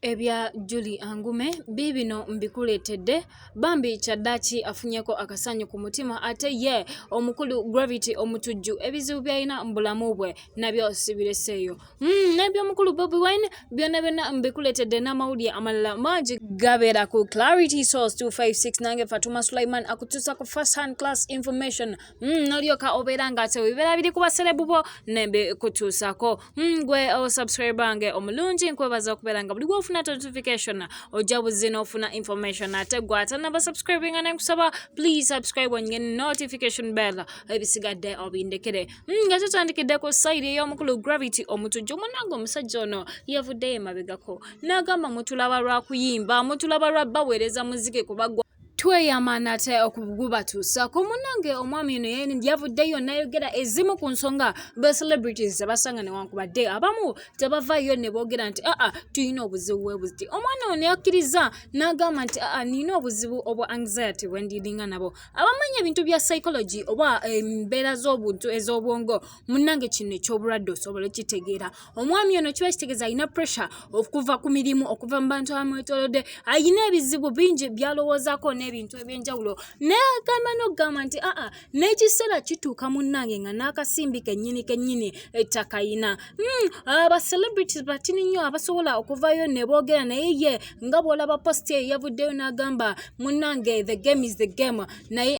ebya Julie Angume biibino mbikuleetedde bambi kyaddaaki afunyeko akasanyu ku mutima ate ye omukulu Gravity Omutujju ebizibu byalina mu bulamu bwe nabyo sibireseeyo mm, nebyomukulu Bobi Wine byonna byonna mbikuleetedde n'amawulire amalala mangi gabeera ku Clarity Source 256 nange Fatuma Sulaiman akutuusa ku first hand class information mm, nolyoka obeera nga tewebibeera biri ku baserebu bo nembikutuusako ngwe hmm, osubscribe oh, nge omulungi nkwebaza okubeera nga buli gwofuna notification ojja buzzi n'ofuna information ate gwe atanaba subscribe nga nenkusaba please subscribe onye notification bell ebisigadde obindekere hmm, nga tutandikidde ku sayidi ey'omukulu gravity omutujju munange omusajja ono yavuddeyo emabegako n'agamba mutulaba lwa kuyimba mutulaba lwa baweereza muziki kubagwa tweyama nate okugubatuusako munange omwami ono yavuddeyo nayogera ezimu ku nsonga ba celebrities zebasanga newankubadde abamu tebavayo ne boogera nti aa tulina obuzibu bwebuti omwana ono yakkiriza n'agamba nti aa nina obuzibu obwa anxiety bwendiringa nabo abamanyi ebintu bya psychology oba embeera z'obuntu ez'obwongo munnange kino ekyobulwadde osobola okitegeera omwami ono kiba kitegeeza alina pressure okuva ku mirimu okuva mu bantu abamwetolodde alina ebizibu bingi byalowoozaako n'ebintu ebyenjawulo nagamba nokugamba nti aa n'ekiseera kituuka munnange nga n'akasimbi kennyini kennyini ettakayina hmm, abacelebrities batini nnyo abasobola okuvayo ne boogera naye ye nga bw'olaba posti eyo yavuddeyo n'agamba munnange the game is the game naye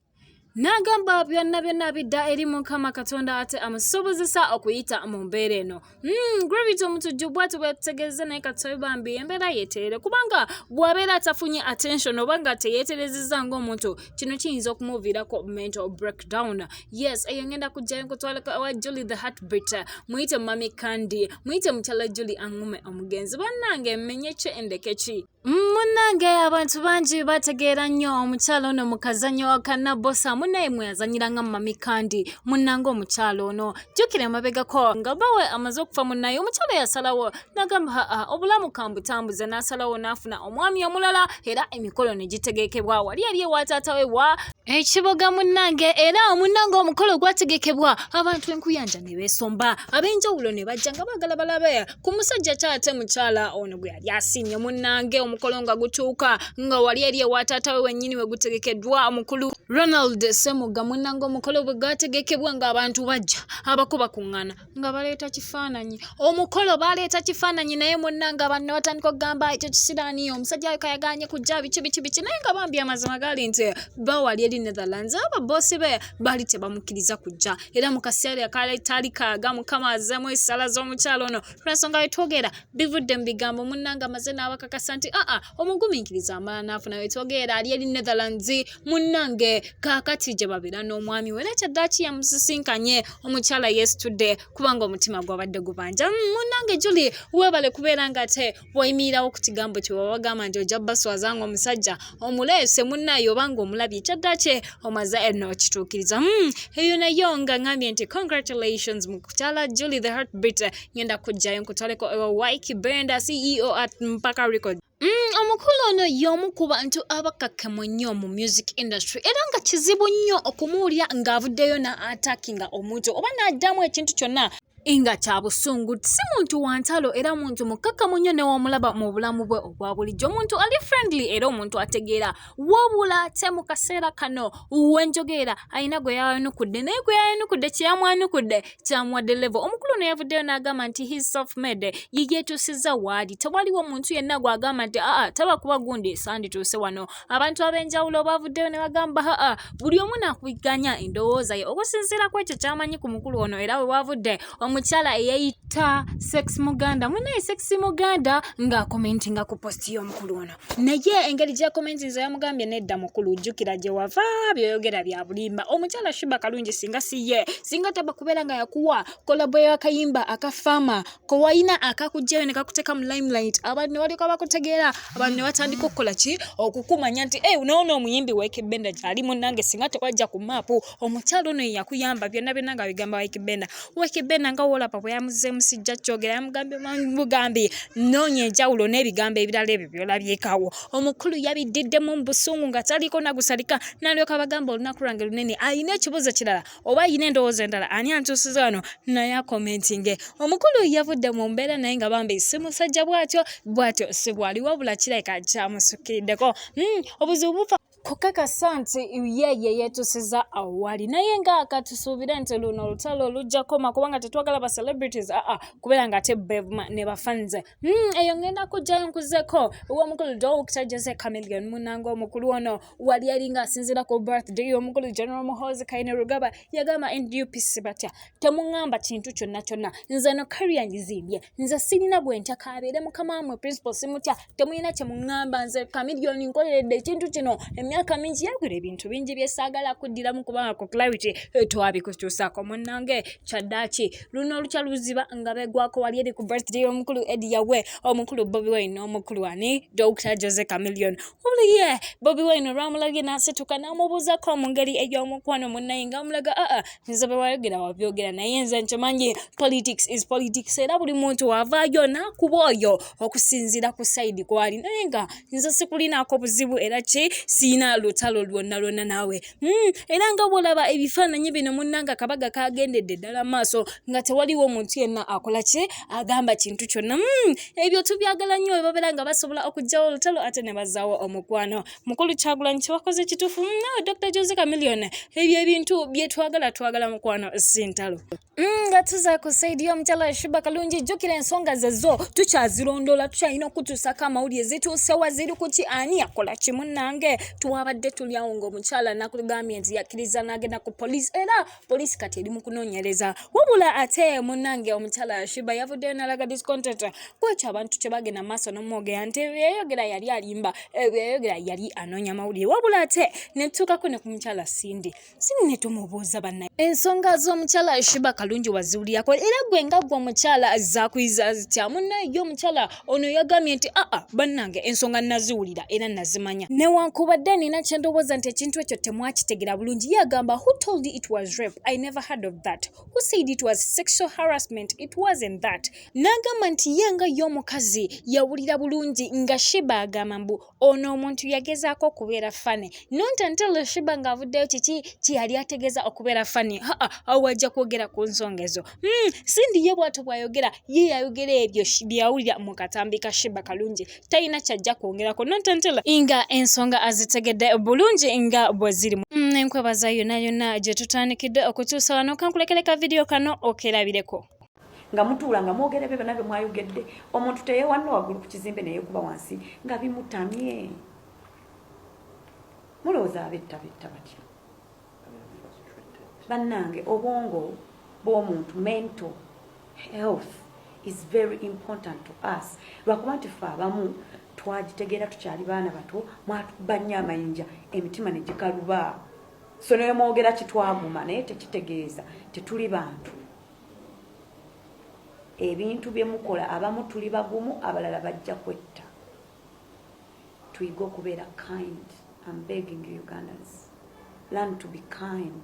n'agamba byonna byonna bidda eri mukama katonda ate amusobozesa okuyita mu mbeera eno hmm, gravity omutujju bwati bwetutegeeza naye katoyi bambi embeera yeterere kubanga bwabeera atafunye attention oba nga teyeterezeza ngaomuntu kino kiyinza okumuviirako mental breakdown yes eyo ngenda kujjayo nkutwalaka wa juli the heartbit muyite mami kandi muyite mukyala juli angume omugenzi bannange mmenyeki endekeki Munnange abantu bangi bategeera nnyo omukyala ono mu kazannyo wa kannabosa munnaye mwe yazanyira nga mumami kandi munnange omukyala ono jjukira emabegako nga bawe amaze okufa munnaye omukyala yasalawo nagamba haa obulamu kambutambuze n'asalawo n'afuna omwami omulala era emikolo ne gitegekebwa wali yali ewa taata we wa ekiboga munnange era omunnange omukolo gwategekebwa abantu enkuyanja ne beesomba ab'enjawulo ne bajja nga baagala balabe ku musajja ki ate mukyala ono gwe yali asiimye munnange omukolo nga gutuuka nga wali eri ewa taata we wennyini we gutegekeddwa omukulu ronald semuga munnange omukolo bwe gwategekebwa ng'abantu bajja abako bakuŋŋana nga baleeta kifaananyi omukolo baleeta kifaananyi naye munnange abantu ne batandika okugamba ekyo kisiraaniyo omusajja ayo kayaganye kujja biki biki biki naye nga bambi amazima gali nti bawali eri netherlands aba boosi be baali tebamukkiriza kujja era mu kaseera akatali kaaga mukama azemu esala z'omukyalo ono lwansonga wetwogera bivudde mu bigambo munnanga amaze n'abakakasa nti aa omugumiikiriza amala n'afuna wetwogera ali eri netherlands munnange kaakati gye babeera n'omwami we era kyaddaki yamusisinkanye omukyala yesitudde kubanga omutima gwabadde gubanja mm, munnange juli webale kubeera nga te bwoyimiirawo ku kigambo kye baba bagamba nti ojja baswaza nga omusajja omuleese munnayo oba nga omulabye kyadda kye omaze enno okituukiriza hmm, eyo nayo nga ngambye nti congratulations mu kukyala julie the heartbeat ngenda kujjayo nkutwaleko ewa wike benda ceo at mpaka record Mm, omukulu ono y'omu ku bantu abakakemu nnyo mu music industry era nga kizibu nnyo okumuwulira ng'avuddeyo na atakinga omuntu oba n'addamu ekintu kyonna nga kya busungu si muntu wa ntalo era muntu mukkakkamu nnyo newamulaba mu bulamu bwe obwa bulijjo omuntu ali friendly era omuntu ategeera wabula te mu kaseera kano wenjogeera alina gwe yayanukudde naye gwe yayanukudde kyeyamwanukudde kyamuwadde levo omukulu ono yavuddeyo n'agamba nti his self made ye yeetuusizza waali tewaliwo muntu yenna gw'agamba nti aa taba kuba gundi sandituuse wano abantu ab'enjawulo baavuddeyo ne bagamba haa buli omu nakuiganya endowooza ye okusinziira ku ekyo kyamanyi ku mukulu ono era we waavudde omukyala eyeyita sex muganda munaye sex muganda ng'akomentinga ku posti y'omukulu ono naye engeri gyakomentinza yamugambye nedda mukulu jjukira gye wava byoyogera bya bulimba omukyala shuba kalungi singa si ye singa taba kubeera nga yakuwa kolabo y'akayimba aka faama kowalina akakugjayo nekakuteka mu limelight abantu nebalyoka bakutegeera abantu nebatandika okukola ki okukumanya nti e eh, nawo noomuyimbi wikibenda gyali munange singa tewajja ku maapu omukyalo ono yeyakuyamba byonna byonna nga bigamba wikibenda wikibenda nga wolapa bweyamuzeemu sijja kyogera yamugambye mugambi noonya enjawulo n'ebigambo ebirala ebyo byolabyekawo omukulu yabiddiddemu mu busungu nga taliko nagusalika nalyoka bagamba olunaku lwange lunene alina ekibuzo kirala oba ayina endowooza endala ani antuusiza wano naye akomentinge omukulu yavudde mu mbeera naye nga bambi si musajja bwatyo bwatyo si bwali wabula kirabika kyamusukiddeko hmm, obuzibu bufa kukakasa nti ye ye yeetusiza awali naye nga katusuubire nti luno olutalo lujja koma kubanga tetwagala ba celebrities aa kubeera nga ate bevuma ne bafanze Hmm, eyo ngenda kujjayo nkuzeko owomukulu dokita jose camilion munanga omukulu ono wali yali nga asinzira ku birthday omukulu general muhozi kaine rugaba yagamba ndupc batya temuŋamba kintu kyonna kyonna nze no kariya ngizimbye nze sirina gwentya kabeere mukama wamwe principal simutya temulina kyemuŋamba nze camilion nkoleredde ekintu kino emyaka mingi yagwira ebintu bingi byesaagala kuddiramu kubanga ku clarity twabikutuusaako munange kyaddaaki luno olukya luziba nga begwako wali eri ku birthday omukulu edi yawe omukulu bobi wine omukulu ani dr jose camilion uliye bobi wine olwamulabye nasituka namubuuzako mu ngeri ey'omukwano munnaye nga amulaga aa ah, ah, nze bewayogera wabyogera naye nze nkimanyi politics is politics era buli muntu wavaayo nakuba oyo okusinziira ku saidi kwali naye nga nze sikulinaako buzibu era ki siina lutalo lwonna lwonna naawe Hmm, era nga bwolaba ebifaananyi bino munnanga akabaga kagendedde ddala maaso nga tewaliwo omuntu yenna akola ki agamba kintu kyonna hmm, ebyo tubyagala nnyo webabeera nga basobola okugjawo olutalo ate ne bazaawo omukwano mukulu kyagulanyi kyewakoze kituufu hmm, nawe dr jose camilion ebyo ebintu byetwagala twagala mukwano sintalo nga tuza kusaidia omukyala yashiba kalungi jjukira ensonga zezo tukyazirondoola tukyalina okutuusako amawulire zituusewa ziri kuki ani yakola kimu nange twabadde tulyawo ngaomukyala nakugambye nti yakkiriza n'agenda ku poliisi era poliisi kati eri mu kunoonyereza wabula ate munange omukyala yashiba yavuddeyo nalaga discontent kwekyo abantu kye bagenda maaso nomwogera nti yayogera yali alimba yayogera yali anoonya mawulire wabula ate netutuukako ne ku mukyala sindi sini ne tumubuuza banna ensonga z'omukyala shiba kalungi waziwulirako era gwe nga gwe omukyala zakuyiza zitya munnaye ye omukyala ono yagambye nti aa bannange ensonga naziwulira era nazimanya newankubadde nina kye ndowooza nti ekintu ekyo temwakitegera bulungi ye agamba who told it was rape i never heard of that who said it was sexual harassment it wasn't that n'agamba nti ye nga ye omukazi yawulira bulungi nga shiba agamba mbu ono omuntu yagezaako okubeera fane not until shiba ng'avuddeyo kiki kyeyali ategeeza okubeera fane haa awo ajja kwogera ku nsonga ezo hmm, sindi ye bwato bwayogera ye yayogera ebyo byeyawulira mu katambi ka shiba kalungi talina kyajja kwongerako not until nga ensonga azitegedde bulungi nga bwe zirimu hmm, enkwebaza yona yona gye tutandikidde okutuusa wano kankulekere ka vidiyo kano okerabireko nga mutuula nga mwogera ebyo byonna bye mwayogedde omuntu teyewanna waggulu ku kizimbe neyekuba wansi nga bimutamye mulowooza abetta betta batya bannange obwongo bw'omuntu mental health is very important to us lwakuba nti fe abamu twagitegeera tukyali baana bato mwatuba nnyo amayinja emitima ne gikaluba so newemwogera kitwaguma naye tekitegeeza tetuli bantu ebintu bye mukola abamu tuli bagumu abalala bajja kwetta tuyige okubeera kind am begging you ugandans learn to be kind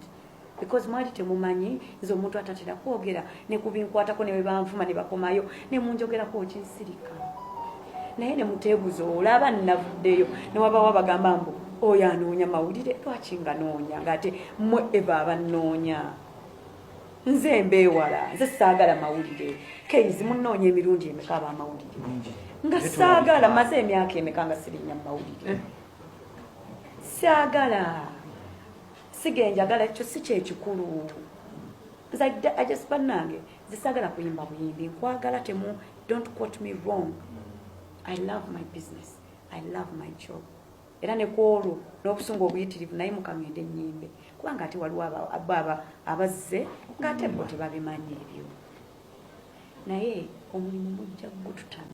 because mwali temumanyi nze omuntu atatera kwogera ne ku binkwatako ne bwe banvuma ne bakomayo ne munjogerako okinsirika naye ne muteebuza olaba nnavuddeyo ne wabawo abagamba mbu oyo anoonya mawulire lwaki nga noonya ng'ate mwe eva abannoonya nze mbeewala nze saagala mawulire keizi munoonya emirundi emeka aba amawulire nga saagala maze emyaka emeka nga sirinya mumawulire eh. saagala sigenjagala ekyo si kyekikulu banange nze saagala kuyimba buyimbi nkwagala temu don't quote me wrong i love my business i love my job era ne kwolwo n'obusungu obuyitirivu naye mukamyende ennyimbe kubanga ate waliwo ababa abazze ng'ate bo tebabimanyi ebyo naye omulimu mujja gututamu